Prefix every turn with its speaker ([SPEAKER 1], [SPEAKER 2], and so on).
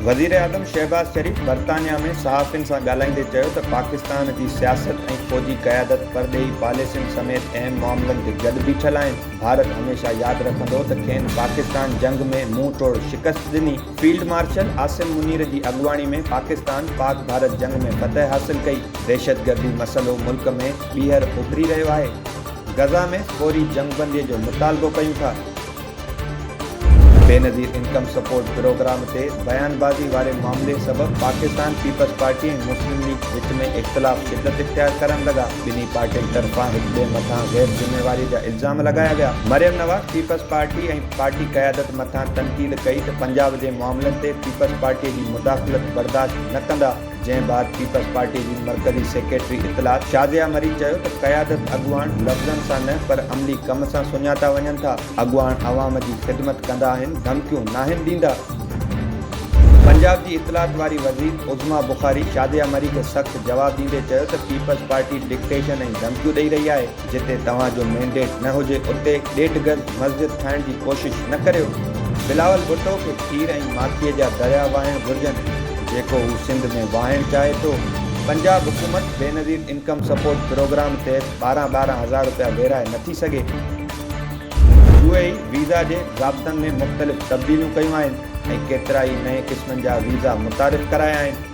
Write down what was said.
[SPEAKER 1] وزيراعظم شهباز شريف برطانيا ۾ صحافين سان ڳالهائيندي چيو ته پاڪستان جي سياست ۽ فوجي قيادت پرڏيهي پاليسين سميت اهم معاملن تي گڏ بيٺل آهن ڀارت هميشه ياد رکندو ته کين پاڪستان جنگ ۾ منهن ٽوڙ شڪست ڏني، فيلڊ مارشل عاصم منير جي اڳواڻي ۾ پاڪستان پاڪ ڀارت جنگ ۾ فتح حاصل ڪئي، دهشتگردي مسئلو ملڪ ۾ ٻيهر اڀري رهيو آهي، غزه ۾ فوري جنگبندي جو مطالبو ڪيون ٿا. بينظير انڪم سپورٽ پروگرام تي بيانبازي واري معاملي سبب Pakistan Peoples Party ۽ Muslim League وچ ۾ اختلاف شدت اختيار ڪرڻ لڳا، ٻنهي پارٽين طرفان هڪ ٻئي مٿان غير ذميواري جا الزام لڳايا ويا، Maryam Nawaz Peoples Party ۽ party قيادت مٿان تنقيد ڪئي ته پنجاب جي معاملن تي پيپلز پارٽي جي مداخلت برداشت نه ڪندا. جنهن بعد پيپلز پارٽي جي مرڪزي سيڪريٽري اطلاعات شازيا مري چيو ته قيادت اڳواڻ لفظن سان نه پر عملي ڪم سان سڃاتا وڃن ٿا، اڳواڻ عوام جي خدمت ڪندا آهن، ڌمڪيون ناهن ڏيندا. پنجاب جي اطلاعات واري وزير عظميٰ بخاري شازيا مري کي سخت جواب ڏيندي چيو ته پيپلز پارٽي ڊڪٽيشن ۽ ڌمڪيون ڏئي رهي آهي، جتي توهان جو مينڊيٽ نه هجي اتي ڏيڍ گز مسجد ٺاهڻ جي ڪوشش نه ڪريو، بلاول ڀٽو کي کير ۽ ماکيء جا دريا واهڻ گهرجن جيڪو هو سنڌ ۾ واهڻ چاهي ٿو، پنجاب حڪومت بينظير انڪم سپورٽ پروگرام تحت ٻارهن ٻارهن هزار روپيا ويرهائي نه ٿي سگهي. يو اي اي ويزا جي ضابطن ۾ مختلف تبديليون ڪيون آهن ۽ ڪيترائي نئين قسمن جا ويزا متعارف ڪرايا آهن.